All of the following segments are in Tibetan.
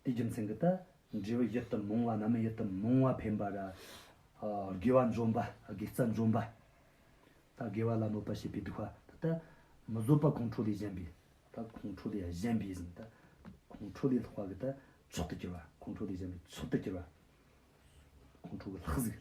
དེའི་རྒྱུ་མཚན་གྱིས་ན་འབྲས་བུ་ཡིད་དུ་འོང་བ་རྣམས་ཡིད་དུ་འོང་བ་འཕེན་པར་དགེ་བ་འཇོམས་པ་དགེ་རྩ་འཇོམས་པ་དགེ་བ་ལ་གནོད་པར་བྱེད་པའི་སྡིག་པ་ད་ལྟ་མི་བཟོད་པ་ཁོང་ཁྲོ་ལས་གཞན་པའི་ཁོང་ཁྲོ་ལས་གཞན་པའི་ཁོང་ཁྲོ་ལས་ལྷག་པ་གྱི་མཆོག་ཏུ་གྱུར་པ་ཁོང་ཁྲོ་ལས་གཞན་པའི་མཆོག་ཏུ་གྱུར་པ་ཁོང་ཁྲོ་གྱི་ལྷག་ཟིག།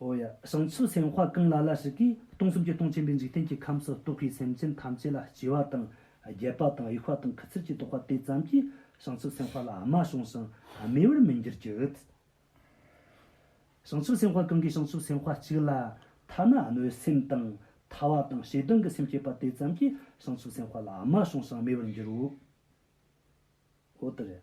ཨོ་ཡ། བྱང་ཆུབ་སེམས་དཔའ་གང་ལ་ལ་ཞིག་གིས་སྟོང་གསུམ་གྱི་སྟོང་ཆེན་པོའི་འཇིག་རྟེན་གྱི་ཁམས་སུ་རྟོག་གེའི་སེམས་ཅན་ཐམས་ཅད་ལ་སྐྱེ་བ་དང་རྒས་པ་དང་དབྱུག་པ་དང་ཁུ་ཚུར་གྱིས་བཟློག་པ་དེ་ཙམ་གྱིས་བྱང་ཆུབ་སེམས་དཔའ་ལ་རྨ་བྱུང་ཞིང་རྨེ་བར་མི་འགྱུར་གྱི། བྱང་ཆུབ་སེམས་དཔའ་གང་གིས་བྱང་ཆུབ་སེམས་དཔའ་གཅིག་ལ་ཐ་ན་གནོད་སེམས་དང་ཐ་བ་དང་ཞེ་སྡང་གི་སེམས་སྐྱེས་པ་དེ་ཙམ་གྱིས་བྱང་ཆུབ་སེམས་དཔའ་ལ་རྨ་བྱུང་ཞིང་རྨེ་བར་འགྱུར་རོ། ཨོ་ཏི་རེ།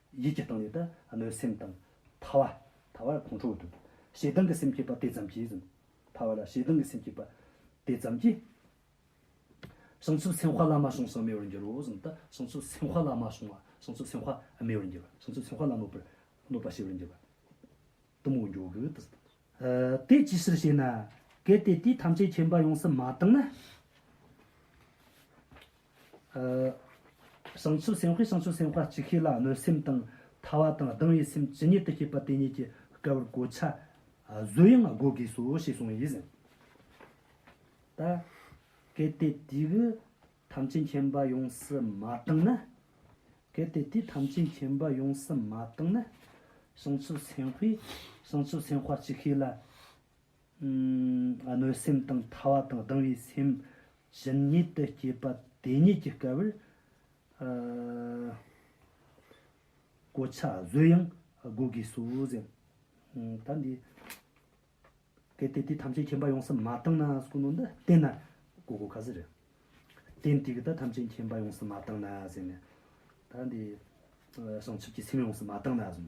ཡིད་ཀྱི་སྟེང་ནས་ད་ལོའི་སེམས་གཏམ། ཐ་བ། ཐ་བ་ལ་ཁོང་ཁྲོ་དང། ཞེ་སྡང་གི་སེམས་སྐྱེས་པ་དེ་ཙམ་གྱིས། ཐ་བ་ལ་ཞེ་སྡང་གི་སེམས་སྐྱེས་པ། དེ་ཙམ་གྱིས། བྱང་ཆུབ་སེམས་དཔའ་ལ་མ་བྱུང་སང་རྨེ་བར་འགྱུར་རོ། བྱང་ཆུབ་སེམས་དཔའ་ལ་མ་བྱུང་བ། བྱང་ཆུབ་སེམས་དཔའ་རྨེ་བར་འགྱུར་བ། བྱང་ཆུབ་སེམས་དཔའ་ལ་གནོད་པར། གནོད་པ་ཞི་བར་འགྱུར་བ། གཏུམ་མོའི་མགྱོགས་གུ་དང། དེ་ཅིའི་ཕྱིར་ཞེ་ན། གལ་ཏེ་དེ་ཐམས་ཅད་མཁྱེན་པ་ཡོངས་སུ་མ་བཏང་ན། བྱང་ཆུབ་སེམས་དཔའི་བྱང་ཆུབ་སེམས་དཔའ་ཅི་ཤེས་ལ་གནོད་སེམས་དང་ཐ་བ་དང་སྡང་བའི་སེམས་ཇི་སྙེད་དུ་སྐྱེས་པ་དེ་སྙེད་ཀྱི་སྐལ་བར་གོ་ཆ་བཟོས་ཡང་བགོ་དགོས་སོ་ཞེས་གསུངས་ཡོད་ཟེར། ད་གལ་ཏེ་དེ་གི་ཐམས་ཅད་མཁྱེན་པ་ཡོངས་སུ་མ་བཏང་ན། གལ་ཏེ་དེ་ཐམས་ཅད་མཁྱེན་པ་ཡོངས་སུ་མ་བཏང་ན། བྱང་ཆུབ་སེམས་དཔའི་བྱང་ཆུབ་སེམས་དཔའ་ཅི་ཤེས་ལ། གནོད་སེམས་དང་ཐ་བ་དང་སྡང་བའི་སེམས་བཞིན་ཉིད་དུ་སྐྱེས་པ་དེ་ཉིད་ཀྱི་སྐལ་བར། གོ་ཆ་བཟོས་ཡང་བགོ་དགོས་སོ་ཟེར། ད་འདི་གལ་ཏེ་དེ་ཐམས་ཅད་མཁྱེན་པ་ཡོངས་སུ་མ་བཏང་ན་སྐུ་ནོ་འདི་བསྟན་ན་བགོ་དགོས་ག་ཟེར། རྟེན་དེ་གི་ད་ཐམས་ཅད་མཁྱེན་པ་ཡོངས་སུ་མ་བཏང་ན་ཟེར་ནས། ད་འདི་བྱང་ཆུབ་ཀྱི་སེམས་ཡོངས་སུ་མ་བཏང་ན་ཟེར།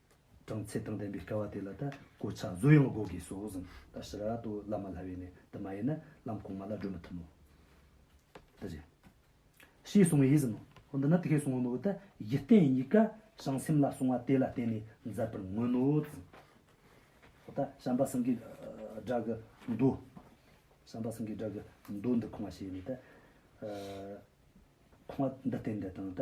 གྲངས་ཚད་དང་ལྡན་པའི་སྐལ་བ་དེ་ལ་ད་གོ་ཆ་བཟོ་ཡང་དགོས་དགོས་སོ་ཟིན་ད་ཕྱི་ར་ཏོ་བླ་མ་ལྷ་བས་ནས་དུ་མ་ཡིན་ན་ལམ་གོང་མ་ལ་བགྲོད་མི་ཐུབ་མོད། ད་ཅི། ཞེས་གསུང་བས་ཟིན་ནོ། ཧོ་འདི་ན་དེ་ཁས་གསུང་བ་མི་འོས་ད་གཞི་རྟེན་གཉིས་ཀ་བྱང་སེམས་ལ་གསུང་བ་དེ་ལ་བརྟེན་ནས་མཛད་པར་མངོན་ནོ་ཟིན། ཧོ་ད་བྱམས་པ་སེང་གེའི་སྒྲ་གི་མདོ། བྱམས་པ་སེང་གེའི་སྒྲ་གི་མདོ་འདི་ཁུང་བ་བྱས་ནས་ད། ཁུང་བ་འདི་རྟེན་འདི་དང་ད།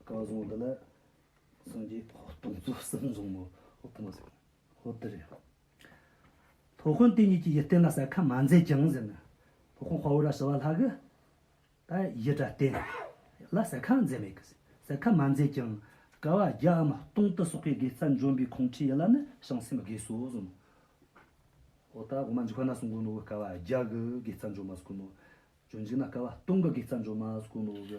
བཀའ་བཟང་འདི་ལ་སངས་རྒྱས་ཕོ་སྟོན་རྫོགས་གསལ་འཛུམ་མོ་ཧོ་ཐུ་མོ་ཟེར་གྱིན་ཧོ་ཏི་རེད། ཕོ་ཧོན་དེ་གཉིས་ཀྱི་ཡི་སྟེང་ལ་ཟ་ཁ་མ་མཛད་ཀྱང་ཟེར་ན་ཕོ་ཧོན་དཔའ་བོ་ར་ཞི་བ་ལྷ་གི་ད་ཡི་དགྲ་སྟེང་ལ་ཟ་ཁ་མཛད་མེད་གི་ཟེར་ཟ་ཁ་མ་མཛད་ཀྱང་དགའ་བ་རྒྱ་འམ་སྟོང་དུ་སོག་པའི་དགེ་རྩ་འཇོམས་པའི་ཁོང་ཁྲི་ཡི་ལ་ནི་བྱང་སེམས་དགེ་བསོ་བཟོ་མོ་ཧོ་ད་གོ་མ་འཇིག་པ་ན་སུ་མགོན་ནོ་གི་དགའ་བ་རྒྱ་གི་དགེ་རྩ་འཇོམས་མ་སུ་གོ་མོ་ཇོ་འཇིག་ན་དགའ་བ་སྟོང་གི་དགེ་རྩ་འཇོམས་མ་སུ་གོ་མོ་གི།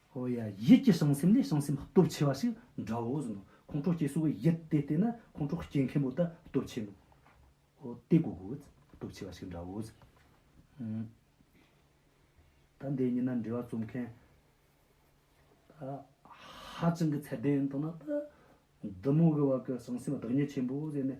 ཧོ་ཡ། ཡིད་ཀྱི་བྱང་སེམས་ལས་བྱང་སེམས་སྟོབས་ཆེ་བ་ཞིག་འདྲ་བོ་ཟིན་ནོ། ཁོང་ཁྲོ་སྐྱེ་གསོ་བའི་ཡིད་དེ་ལྟས་ན་ཁོང་ཁྲོ་སྐྱེ་མཁན་པོ་ད་སྟོབས་ཆེ་ནོ། ཧོ། དེ་དགོས་གོ། སྟོབས་ཆེ་བ་ཞིག་འདྲ་བོ་ཟིན། ད་འདི་གཉིས་ན་འབྲེལ་བ་རྩོམ་མཁན་ད་ཧ་ཅང་གི་ཚད་ལྡན་ཡིན་མདོག་ན་ད། འདི་མོ་གི་བར་གྱི་བྱང་སེམས་བདག་ཉིད་ཆེན་པོ་ཟེར་ནས།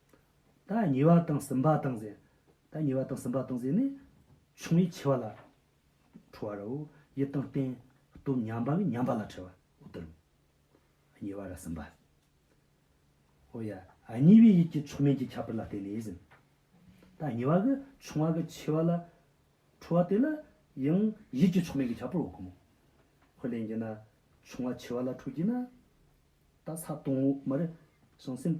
ད་ཉེ་བ་དང་སུམ་པ་དང་གཟན། ད་ཉེ་བ་དང་སུམ་པ་དང་གཟན་ནི། ཆུང་བས་ཆེ་བ་ལ་ཁྲོ་བ་རའོ། ཡིད་དང་རྟེན་སྟོབས་མཉམ་པ་བས་མཉམ་པ་ལ་ཁྲོ་བ་དུ་རུ། ཉེ་བ་ར་སུམ་པ། ཨོ་ཡ། གཉིས་པའི་ཡིད་ཀྱི་ཆོས་མིན་གྱི་ཁྱབ་པར་ལ་བརྟེན་ནས་ཟིན། ད་ཉེ་བ་གི་ཆུང་བ་གི་ཆེ་བ་ལ་ཁྲོ་བ་དེ་ལ་ཡང་ཡིད་ཀྱི་ཆོས་མིན་གྱི་ཁྱབ་པར་འོག་གོ། ཧོ་ལན་གྱི་ན། ཆུང་བ་ཆེ་བ་ལ་ཁྲོ་གྱི་ན། ད་ས་སྟོང་འོག་མར་བྱང་སེམས།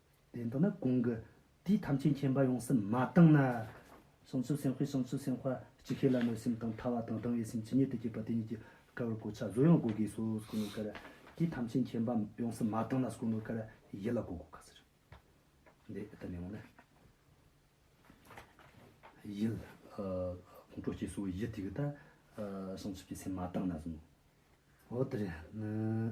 ལན་དུ་ནི་གོང་གི་དུས་ཐམས་ཅད་མཁྱེན་པ་ཡོངས་སུ་མ་བཏང་ན། གསང་ཆུབ་སེམས་དཔའི་གསང་ཆུབ་སེམས་དཔའ་ཅི་ཤེས་ལ་གནོད་སེམས་དང་ཐར་བ་དང་སྡང་བའི་སེམས་ཇི་སྙེད་དུ་བསྐྱེད་པ་དེ་ཉིད་ཀྱིས་དགའ་བར་གོ་ཆ་བཟོ་ཡང་གོ་དགོས་སོ། སྐུ་ནི་གར། དུས་ཐམས་ཅད་མཁྱེན་པ་ཡོངས་སུ་མ་བཏང་ན་སྐུ་ནི་གར་ཡིད་ལ་གོ་དགོས་ག་ཟེར། འདི་ཨི་ལྟར་ཡང་ན། ཡིད། ཁོང་ཁྲོ་སྐྱེས་སོ་བའི་ཡིད་དེ་གི་ད། གསང་ཆུབ་ཀྱི་སེམས་མ་བཏང་ན་གཟུང་ངོ། འོ་དེར་ནི།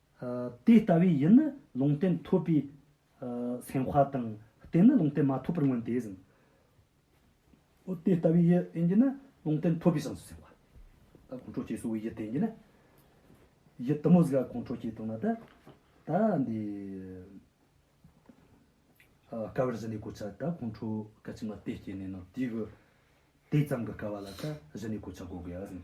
དེ་ལྟ་བས་ཡིད་ནི་ལུང་བསྟན་ཐོབ་པའི་སེམས་དཔའ་དང། རྟེན་ནི་ལུང་བསྟན་མ་ཐོབ་པར་མངོན་དེ་བཞིན་ནོ། དེ་ལྟ་བས་ཡིད་བསྟན་གྱི་ནི་ལུང་བསྟན་ཐོབ་པའི་སངས་སུ་སེམས་དཔའ། ད་ཁོང་ཁྲོ་སྐྱེས་གསོ་བའི་ཡིད་བསྟན་གྱི་ནི། ཡིད་དུ་མོ་ཟིག་ག་ཁོང་ཁྲོ་སྐྱེས་དང་ན་ད། ད་འདི། སྐལ་བར་གཞི་ནས་གོ་ཆ་ད་ཁོང་ཁྲོ་སྐལ་ཕྱི་མ་དེ་སྐྱེས་ནས་ནོ་དེའི་གི། དེ་ཙམ་གྱི་སྐལ་བ་ལ་ད་གཞི་ནས་གོ་ཆ་གོ་དགོས་ཡ་བཞིན།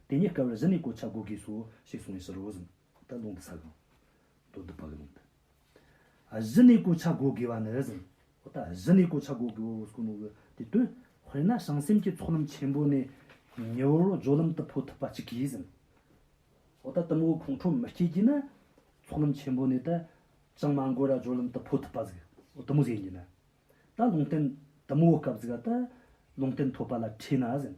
དེ་ཉིད་སྐལ་བར་གཞི་ནས་གོ་ཆ་བགོ་དགོས་སོ། ཞེས་གསུངས་ནས་ཕྱི་རོལ་བཟུང། ད་ལུང་དུ་ས་གང། མདོ་སྡེ་བ་ག་ལུང་དུ། གཞི་ནས་གོ་ཆ་བགོ་དགོས་པ་ནི་གཟིམས། ད་གཞི་ནས་གོ་ཆ་བགོ་དགོས་སོ་སྐུ་ནོ་གི་དེ་དོན། དཔེར་ན་བྱང་སེམས་ཀྱི་ཚོགས་ལམ་ཆེན་པོ་ནས། ཉི་འོད་རོ་སྦྱོར་ལམ་དུ་འཕོ་ཐུབ་པ་གཅིག་གིས་གཟིམས། ད་གཏུམ་འོད་ཁོང་ཁྲོ་མི་སྐྱེ་གྱིས་ན། ཚོགས་ལམ་ཆེན་པོ་ནས་ད། ཅང་མ་འགོས་ར་སྦྱོར་ལམ་དུ་འཕོ་ཐུབ་པ་གཟིགས། གཏུམ་འོད་ཟད་གྱིས་ན། ད་ལུང་བསྟན། གཏུམ་འོད་སྐབས་གཟིགས། ད་ལུང་བསྟན་ཐོབ་པ་ལ་ཁྲིད་ན་གཟིམས།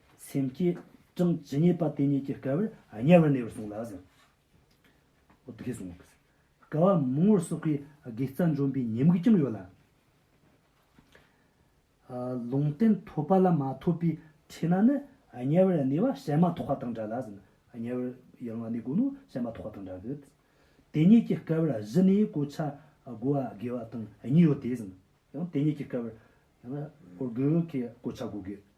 སེམས་བསྐྱེད་གྲངས་ཇི་སྙེད་པ་དེ་སྙེད་ཀྱི་དཀའ་བས་དམྱལ་བར་གནས་པར་གསུངས་ལགས་སོ། དེ་སྐད་གསུངས། དཀའ་བ་མང་བོར་སོགས་པའི་དགེ་རྩ་འཇོམས་པའི་ཉེས་དམིགས་ཀྱང་ཡོད་ལ། ལུང་བསྟན་ཐོབ་པ་ལ་མ་ཐོབ་པའི་ཁྲི་ན་ནི་དམྱལ་བར་གནས་པ་བྱད་མ་ཐོགས་པ་དང་འདྲ་ལགས་སོ། དམྱལ་བར་ཡང་ན་གནས་དགོས་ན་བྱད་མ་ཐོགས་པ་དང་འདྲ་གི། དེ་སྙེད་ཀྱི་དཀའ་བར་གཞི་ནས་གོ་ཆ་བགོ་བ་དགེ་བ་དང་གཉིས་ཡོད་དེ། ཡང་དེ་སྙེད་ཀྱི་དཀའ་བར། ཡང་ན་དགེ་བའི་གོ་ཆ་བགོ་དགོས།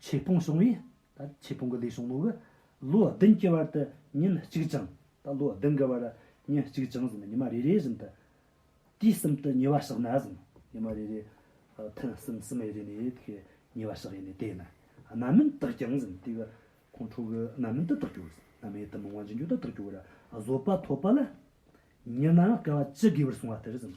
ཆོས་ཕུང་བྱུང་བས། ཆོས་ཕུང་གི་ལས་བྱུང་མོད། ལོ་བདུན་གྱི་བར་དུ་ཉིན་གཅིག་བྱིང། ལོ་བདུན་གྱི་བར་ཉིན་གཅིག་བྱིང་ཟིན་ཉི་མ་རེ་རེ་བཞིན་དུ། དུས་གསུམ་དུ་ཉེ་བར་བཤགས་ན་ཟིན། ཉི་མ་རེ་རེ། ཐུན་གསུམ་གསུམ་རེ་རེ་ནས་དེ་ཉེ་བར་བཤགས་ཡས་ནས་དེ་ནི། རྣམ་སྨིན་དག་བྱིང་ཟིན། དེ་གི་ཁོང་ཁྲོ་གི་རྣམ་སྨིན་དུ་དག་གྱུར། རྣམ་སྨིན་དུ་མི་དབང་ཅི་འགྱུར་དུ་དག་གྱུར། བཟོད་པ་ཐོབ་པ་ལ། ཉི་སྣང་སྐལ་བ་ཅི་དགོས་པར་བསྲུང་བ་ལྟར་ཟིན།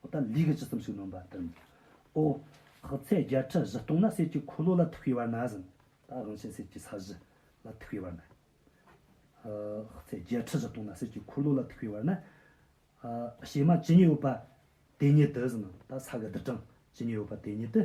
ཨོ་ད་ལུས་ཀྱི་ཇི་ཙམ་ཞིག་ནོན་པ་དང། ཨོ། ཁག་ཚད་བརྒྱད་ཁྲི་བཞི་སྟོང་ན་གསེར་གྱི་འཁོར་ལོ་ལ་ཐུག་པའི་བར་ན་ཟིན། ད་དབང་ཆེན་གསེར་གྱི་ས་གཞི་ལ་ཐུག་པའི་བར་ན། ཁག་ཚད་བརྒྱད་ཁྲི་བཞི་སྟོང་ན་གསེར་གྱི་འཁོར་ལོ་ལ་ཐུག་པའི་བར་ན། བྱེ་མ་ཇི་སྙེད་ཡོད་པ་དེ་སྙེད་དུ་ཟིན། ད་ས་ག་བདུད་གྲངས་ཇི་སྙེད་ཡོད་པ་དེ་སྙེད་དུ།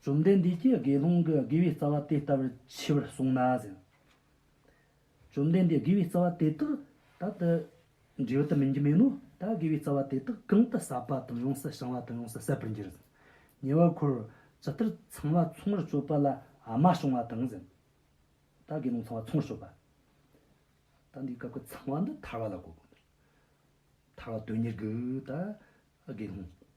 བཅོམ་ལྡན་འདས་ཀྱིས་དགེ་སློང་གི་དགེ་བའི་རྩ་བ་དེ་ལྟ་བུར་མཆིས་པར་གསུངས་ན་ཟིན། བཅོམ་ལྡན་འདས་དགེ་བའི་རྩ་བ་དེ་དག་ད་དུ་འབྲས་བུ་དུ་མིན་གྱི་མིན་ནོ། ད་དགེ་བའི་རྩ་བ་དེ་དག་གང་དུ་ཟ་བ་དང་ཡོངས་སུ་བྱང་བ་དང་ཡོངས་སུ་ཟད་པར་འགྱུར་ཟིན། ཉེ་བར་འཁོར་ཇི་ལྟར་ཚང་བ་ཚོང་བར་སྤྱོད་པ་ལ་མ་བྱུང་བ་དང་ཟིན། ད་དགེ་སློང་ཚང་བ་ཚོང་བར་སྤྱོད་པ། ད་འདིའི་སྐབས་ཀྱི་ཚང་བ་འདི་ཐར་བ་ལ་གོ། ཐར་བ་དོན་གཉེར་གྱི་ད་དགེ་སློང།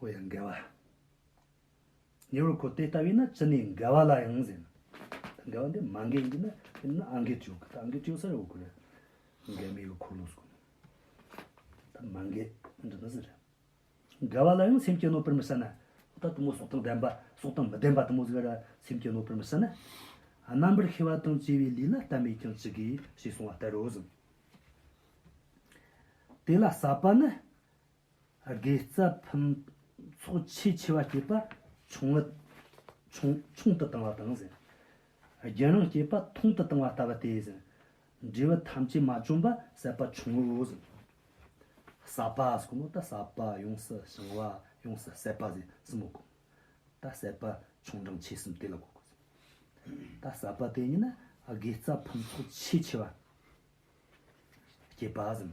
ཨོ་ཡ་འགལ་བ། ཉེ་བར་གོ་དེ་ལྟ་བས་ན་ཅི་ནས་འགལ་བ་ལ་ཡང་ཟེར། འགལ་བ་འདི་མ་འགལ་གྱི་ན་དེ་ན་ཨ་འགལ་ཅུག་ཨ་འགལ་ཅུག་ས་ཡོད་དགོས། འགལ་མེད་ཀྱི་འཁོར་ལོ་སོགས། ད་མ་འགལ་འདི་ན་ཟེར། འགལ་བ་ལ་ཡང་སེམས་སྐྱེད་ནོ་པིར་མི་ཟེར་ན། ད་གཏུམ་མོ་སོགས་དང་ལྡན་པ་སོགས་དང་མི་ལྡན་པ་དང་མོ་ཟེར་ན་སེམས་སྐྱེད་ནོ་པིར་མི་ཟེར་ན། རྣམ་པར་ཤེས་པ་དང་བཅས་པའི་ལུས་ལ་ལྟ་མེད་ཀྱང་ཅི་དགོས་ཞེས་གསུང་བ་ལྟར་རོ། དེ་ལ་ཟབ་པ་ནི། དགེ་རྩ་ཕུན་ཚོགས་ཆེས་ཆེ་བ་བསྐྱེད་པ་ཆུང་ངུ་ཆུང་དུ་བཏང་བ་དང། རྒྱུན་རིང་བསྐྱེད་པ་ཐུང་དུ་བཏང་བ་ལྟ་བུ་སྟེ། འབྲས་བུ་ཐམས་ཅད་མ་བྱུང་བར་ཟད་པ་ཆུང་ངུའོ། ཟ་བ་གསུམ་མོ་ད་ཟ་བ་ཡོངས་སུ་བྱང་བ་ཡོངས་སུ་ཟད་པ་ཟས་གསུམ་མོ་གོ། ད་ཟད་པ་ཆུང་འབྲིང་ཆེ་གསུམ་དེ་ལ་གོ། ད་ཟ་བ་དེ་ཉིད་ནི་དགེ་རྩ་ཕུན་ཚོགས་ཆེས་ཆེ་བ་བསྐྱེད་པ།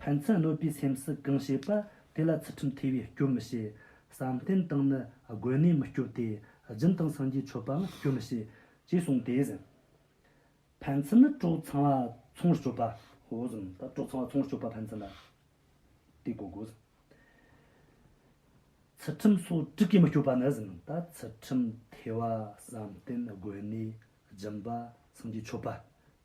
ཕན་ཚུན་གནོད་པའི་སེམས་སུ་གང་བྱེད་པ་དེ་ལ་ཚུལ་ཁྲིམས་ཐོས་པས་སྐྱོན་མི་བྱེད། བསམ་གཏན་དང་ནི་དགོན་གནས་མི་སྐྱོབ་སྟེ། སྦྱིན་དང་སངས་རྒྱས་མཆོད་པའང་སྐྱོན་མི་བྱེད། ཅེས་གསུངས་ཏེ། ཕན་ཚུན་ནི་གྲོགས་ཚང་བ་ཚོང་བར་སྤྱོད་པ། གྲོགས་ཚང་བ་ཚོང་བར་སྤྱོད་པ་ཕན་ཚུན་ལ་དེ་གོ་དགོས། ཚུལ་ཁྲིམས་སོགས་དྲུག་གིས་མི་སྐྱོབ་པ་ནི། ཚུལ་ཁྲིམས་ཐོས་པ་བསམ་གཏན་དགོན་གནས་སྦྱིན་པ་སངས་རྒྱས་མཆོད་པ།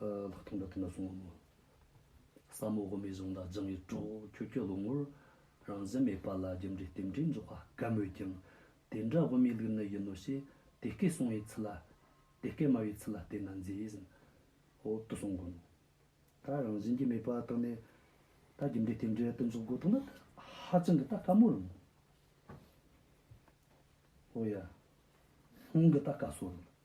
ལྷག་མཐོང་དགྲ་བགེགས་ལ་སྲུང་བ་མོ། ཟབ་མོ་དབུ་མའི་གཞུང་དང་སྦྱང་བའི་གྲོགས། ཁྱོད་ཀྱི་བློ་ངོར་རང་བཞིན་མེད་པ་ལ་རྒྱུ་འབྲས་རྟེན་འབྲེལ་འཇོག་པ་གལ་མོད་ཀྱང། དེ་འདྲ་དབུ་མའི་ལུགས་ནི་ཡིན་ནོ་ཞེས་དེ་སྐད་གསུང་བའི་ཚུལ་ལ། དེ་སྐད་སྨྲ་བའི་ཚུལ་ལ་བལྟས་ན་མཛེས་བཞིན་འོག་ཏུ་སོང་དགོས་མོད། ད་རང་བཞིན་གྱི་མེད་པ་དག་ནས་ད་རྒྱུ་འབྲས་རྟེན་འབྲེལ་རྟེན་འཇོག་དགོས་ཐུག་ན་ཧ་ཅང་གི་ད་དཀའ་མོ་རང། ཨོ་ཡ། ལྷུང་གི་ད་དཀའ་སོ་རང།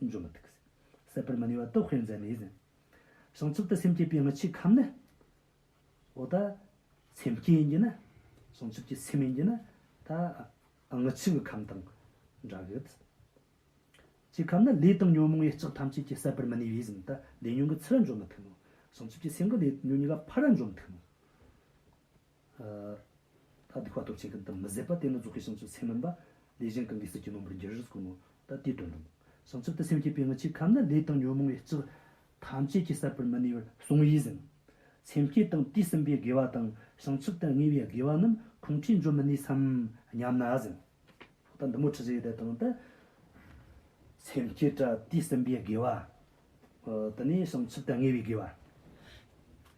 འབྱུང་བ་ཐུགས་ཟད་པར་མི་ནུས་པ་སྟོབས་བསྐྱེད་མཛད་མས་ཟིན། བྱང་ཆུབ་ཏུ་སེམས་བསྐྱེད་པའི་མི་ཕྱེད་ཁམས་ནི། འོ་ད། སེམས་བསྐྱེད་ཡིན་གྱི་ན། བྱང་ཆུབ་ཀྱི་སེམས་ཡིན་གྱི་ན། ད། མི་ཕྱེད་ཀྱི་ཁམས་དང། འདྲ་གི། ཀྱི་ཁམས་ནི་ལས་དང་ཉོན་མོངས་ཡེ་ལྕགས་ཐམས་ཅད་ཀྱིས་ཟད་པར་མི་ནུས་པས་ཟིན། ད། ལས་ཉོན་གྱི་ཚུལ་འབྱུང་མི་ཐུབ་མོ། བྱང་ཆུབ་ཀྱི་སེམས་ཀྱི་ལས་ཉོན་གཉིས་ཀ་ཕ་རོལ་འབྱུང་མི་ཐུབ་མོ། ད་དེ་ཁ་ཐོབ་བྱེད་མཁན་དང་མི་ཟད་པ་དེ་ནི་རྫོགས་ཤིང་བྱང་ཆུབ་སེམས་མིན་པ། ལས་གཞན་གང་གིས་སྲིད་ཀྱི་ནོར་བུར་འགྱུར་རིགས་ཀུན་ནོ། ད་དེའི་དོན་དང། བྱང་ཆུབ་ཏུ་སེམས་བསྐྱེད་པའི་སྔོན་ཆད་ཁམས་ན་ལས་དང་ཉོན་མོངས་པའི་ལྕགས། ཐམས་ཅད་ཀྱིས་བསད་པར་མི་ནུས་པར་གསུངས་ཡིད་བཞིན། སེམས་བསྐྱེད་དང་དུས་གསུམ་པའི་དགེ་བ་དང་བྱང་ཆུབ་ཏུ་ངེས་པའི་དགེ་བ་རྣམས་ཁོང་ཁྲིར་འཇོག་མི་ནུས་སམ་སྙམ་ན་བཞིན། ད་འདི་མོ་ཁྲི་བཞི་ཡི་དེ་དང་དེ། སེམས་བསྐྱེད་དང་དུས་གསུམ་པའི་དགེ་བ། དེ་ནས་བྱང་ཆུབ་ཏུ་ངེས་པའི་དགེ་བ།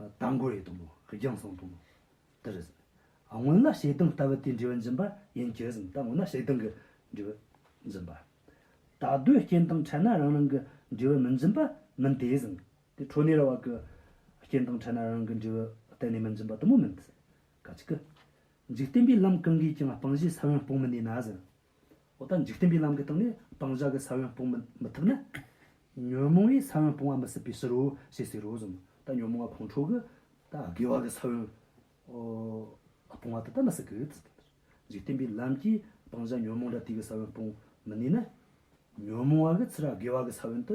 རྟ་མགོ་རེད་དུམ་བུ་རྒྱང་སོང་དུམ་བུ་དེ་རེད། སྔོན་ན་ཞེ་སྡང་ལྟ་བུ་དེའི་འབྲས་བུ་འཛིན་པ་ཡིན་གྱི་ཟིན་ད་སྔོན་ན་ཞེ་སྡང་གི་འབྲས་བུ་འཛིན་པ། ད་གདོད་རྐྱེན་དང་ཕྲད་ན་རང་རང་གི་འབྲས་བུ་མི་འཛིན་པ་མིན་དེ་ཟིན་དེ་འཕྲོ་གནས་ར་བ་གི་རྐྱེན་དང་ཕྲད་ན་རང་རང་གི་འབྲས་བུ་གཏན་ནས་མི་འཛིན་པ་དུམ་བུ་མིན་དེ་ཟིན་ག་ཅིག་གི། འཇིག་རྟེན་པའི་ལམ་གང་གིས་ཀྱང་སྤང་བྱའི་ས་བོན་སྤོང་མི་ནུས་ན་ཟིན། འོ་ད་འཇིག་རྟེན་པའི་ལམ་གྱི་སྟེང་ནས་སྤང་བྱ་གི་ས་བོན་སྤོང་མི་ཐུབ་ན། ཉོན་མོངས་པའི་ས་བོན་སྤོང་བ་མི་སྲིད་པས་ཟེར་རོ་ཞེས་ཟེར་རོ་གསུངས། ད་ཉོན་མོངས་པ་ཕུང་ཁྲོ་གི། ད་དགེ་བ་གི་ས་བོན་སྤོང་བ་དེ་ལྟ་མི་སྲིད་ཀི། འཇིག་རྟེན་པའི་ལམ་གྱིས་སྤང་བྱ་ཉོན་མོངས་དགྲ་བགེགས་ཀྱི་ས་བོན་སྤོང་མི་ནུས་ན། ཉོན་མོངས་བ་གི་ཚེ་དགེ་བ་གི་ས་བོན་དུ་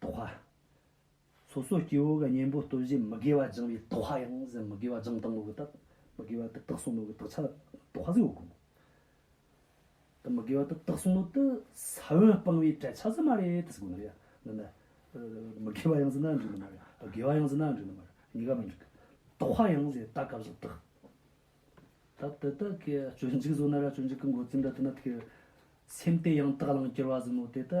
དོ་ཧ། སོ་སོའི་སྐྱེ་བོ་ག་གཉེན་པོ་ལྟོས་བཞིན་མི་དགེ་བ་སྦྱང་བའི་དོ་ཧ་ཡང་ཟིན་མི་དགེ་བ་སྦྱང་དང་མོ་གི་དག་མི་དགེ་བ་དུ་དག་གསུང་མོ་གི་དག་ཆ་ལ་དོ་ཧ་ཟེར་བ་དགོངས། དུ་མི་དགེ་བ་དུ་དག་གསུང་མོ་དུ་ས་བོན་སྤང་བའི་བྲལ་ཆ་ཟིན་མ་རེད་དུ་དགོངས། འདི་ནི། མི་དགེ་བ་ཡང་ཟིན་ན་འགྲིག་ནི་མ་རེད། དགེ་བ་ཡང་ཟིན་ན་འགྲིག་ནི་མ་རེད། གཉིས་ཀ་མི་འགྲིག། དོ་ཧ་ཡང་ཟིན་ད་སྐབས་སུ་དག། ད་དེ་དག་གི་སྤྱོད་འཇུག་བཟོ་ན་ར་སྤྱོད་འཇུག་གི་འགོ་རྩིས་འདྲ་དུ་ན་དེ་གི། སེམས་དེ་ཡང་དག་བླང་གྱུར་བ་ཟིན་མོ་དེ་དུ་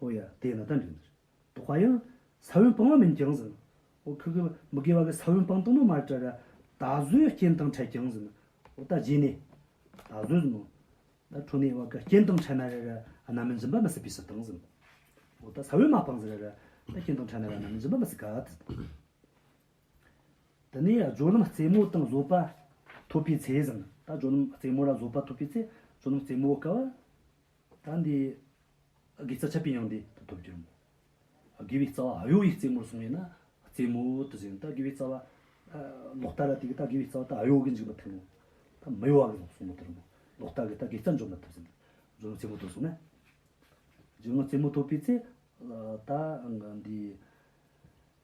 ཨོ་ཡ། དེ་ན་ད་འགྲིག་འདུག་དོ་ཧ་ཡང། ས་བོན་སྤང་བ་མིན་ཀྱང་ཟིན། ཨོ་ཁི་ཁི། མི་དགེ་བ་གི་ས་བོན་སྤང་དོན་ནོ་མ་རེད་ཏྲ་ར། ད་གཟོད་རྐྱེན་དང་ཕྲད་ཀྱང་ཟིན། ཨོ་ད་རྗེས་ནས། ད་གཟོད་ཟིན་ནོ། ད་ཁྲོ་ནའི་བ་ག་རྐྱེན་དང་ཕྲད་ན་རེ་ར། རྣམ་སྨིན་འཛིན་པ་མི་སྲིད་པའི་སྲིད་དང་ཟིན། ཨོ་ད་ས་བོན་མ་སྤང་ཟིན་རེ་ར། ད་རྐྱེན་དང་ཕྲད་ན་ར་རྣམ་སྨིན་འཛིན་པ་མི་སྲིད་ག་ད་ཟིན། དེ་ནས་སྦྱོར་ལམ་རྩེ་མོ་དང་བཟོད་པ་ཐོབ་པའི་ཚེ་ཟིན། ད་སྦྱོར་ལམ་རྩེ་མོ་ར་བཟོད་པ་ཐོབ་པའི་ཚེ། སྦྱོར་ལམ་རྩེ་མོ་བ་ག་བ། ད་འདི་དགེ་རྩ་ཆ་པི་ཡང་འདི་དུ་ཐོབ་འགྱུར་མོད། དགེ་བའི་རྩ་བ་ཨ་ཡོ་ཡི་རྩེ་མོར་བཟུང་བས་ན་རྩེ་མོ་དུ་ཟིན་ད་དགེ་བའི་རྩ་བ། ལོག་ལྟ་ལ་དེ་ད་དགེ་བའི་རྩ་བ་ད་ཨ་ཡོ་གི་འཇིག་པ་ཐིམ་མོ། ད་མི་གཡོ་བ་གི་གཟུངས་མོ་དོར་མོ། ལོག་ལྟ་གི་ད་དགེ་རྩ་འཇོམས་པ་ཐོབ་ཟིན། འཇོམས་རྩེ་མོ་དུ་བཟུང་ན། འཇོམས་རྩེ་མོ་ཐོབ་པའི་ཚེ། ད་འདི།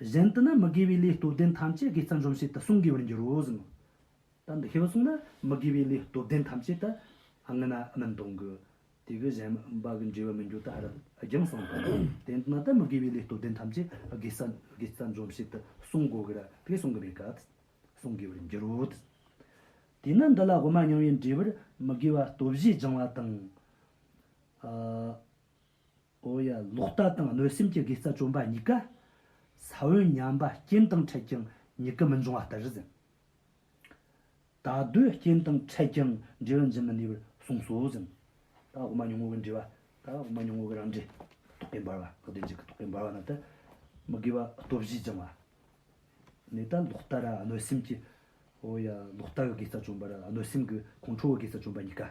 གཞན་དུ་ན་མི་དགེ་བའི་ལས་སྟོབས་ལྡན་ཐམས་ཅད་ཀྱིས་རྩ་འཇོམས་བྱེད་དུ་གསུངས་དགོས་པར་འགྱུར་རོ་གསུངས། ད་འདི་ཤེས་པར་གསུངས་ན་མི་དགེ་བའི་ལས་སྟོབས་ལྡན་ཐམས་ཅད་དུ་ངེས་ན་མི་འདོང་གི། དེ་གི་གཞན་པ་གི་འབྲས་བུ་མི་འགྱུར་ད་རབ་སྦྱངས་གསུངས་པ། དེ་འདི་ན་ད་མི་དགེ་བའི་ལས་སྟོབས་ལྡན་ཐམས་ཅད་ཀྱིས་རྩ་འཇོམས་བྱེད་དུ་གསུངས་དགོས་ཀྱི་ར་དེ་གསུངས་ཀྱི་མེད་ག་དེ་གསུངས་དགོས་པར་འགྱུར་རོ། དེས་ན་འདི་ལ་དབུ་མ་མྱང་བའི་འབྲས་བུར་མི་དགེ་བ་སྟོབས་བཞི་སྦྱང་བ་དང། ཨོ་ཡ་ལོག་ལྟ་དང་གནོད་སེམས་ཀྱི་དགེ་རྩ་བཅོམ་པ་གཉིས་ཀ། ས་བོན་ཉམས་པ་རྐྱེན་དང་འཕྲད་ཀྱང་གཉིས་ཀ་མི་འབྱུང་བ་ལྟར་ཟིན། ད་གདོད་རྐྱེན་དང་འཕྲད་ཀྱང་འབྲས་བུ་འབྱིན་མི་ནུས་པར་གསུངས་སོ་ཟིན། ད་འོག་མ་ཉུང་ངུ་གི་འབྲས་བ། ད་འོག་མ་ཉུང་ངུ་གི་རང་འབྲས། རྟོག་གེ་འབར་བ་དག་བདེ་འཇགས་ཀྱི་རྟོག་གེ་འབར་བ་རྣམས་ཏེ། མི་དགེ་བ་ལྟོ་བཞིས་སྦྱང་བ། ནས་ད་ལོག་ལྟ་ར་གནོད་སེམས་ཀྱི། ཨོ་ཡ་ལོག་ལྟ་གི་དགེ་རྩ་བཅོམ་པ་ར་གནོད་སེམས་ཀྱི་ཁོང་ཁྲོ་བའི་དགེ་རྩ་བཅོམ་པ་གཉིས་ཀ།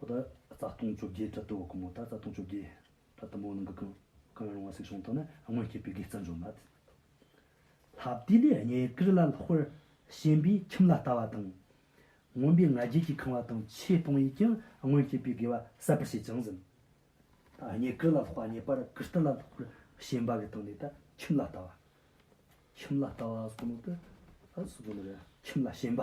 ད་རྩ་སྟོང་བཅོ་བརྒྱད་དྲ་དུ་ཀུ་མུ་ད་རྩ་སྟོང་བཅོ་བརྒྱད་དྲ་དུ་མོ་ནང་གི་ཀུན་ཀང་རུང་བ་སིག་ཤོང་དང་ནི་སྔོན་སྐྱེས་པའི་དགེ་རྩ་འཇོམས་མ། ལྷ་བདུད་ལས་ལྔའི་ཀིར་ལ་ལྷག་པར་ཞེན་པས་ཁྱིམ་ལ་ལྟ་བ་དང། མངོན་པའི་ང་རྒྱལ་གྱིས་ཁང་བ་དང་ཆས་སྟོང་ཡིས་ཀྱང་སྔོན་སྐྱེས་པའི་དགེ་བ་གསད་པར་བྱེད་ཅིང་ཟིན། ལྔའི་ཀིར་ལ་ལྷག་པ་ངེས་པར་ཀིར་ཏི་ལ་ལྷག་པར་ཞེན་པ་གི་སྟེང་ནས་ཁྱིམ་ལ་ལྟ་བ། ཁྱིམ་ལ་ལྟ་བ་སོགས་ནང་དུ་ཁྱིམ་ལ་ཞེན་པ།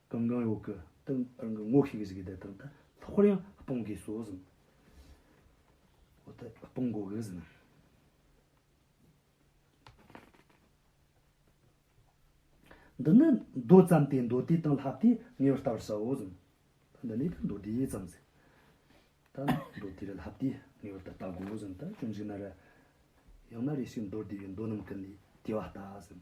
གང་གང་ཡོད་ཀི་ཏིང་རང་གི་ངོ་ཤེས་ཀི་ཟིག་གི་དེ་ཏིང་ཏི་ལྷག་པར་ཡང་སྤོང་གི་སོ་ཟིན། འོ་དེ་སྤོང་དགོ་གི་ཟིན། འདི་ནི་མདོ་ཙམ་སྟེ་མདོ་དེ་དང་ལྷག་དེ་ངེས་པར་ལྟ་བར་བྱའོ་ཟིན། འདི་ནི་ཏི་མདོ་དེ་ཙམ་ཟིན། ད་ནི་མདོ་དེ་རེ་ལྷག་དེ་ངེས་པར་ཏི་ལྟ་དགོ་ཟིན་ད་ཅུང་ཞིག་ན་རེ། ཡང་ན་རེ་ཞིག་མདོར་བསྡུས་པའི་མདོ་རྣམས་ཀི་ནི་དེ་བ་ལྟ་ཟིན།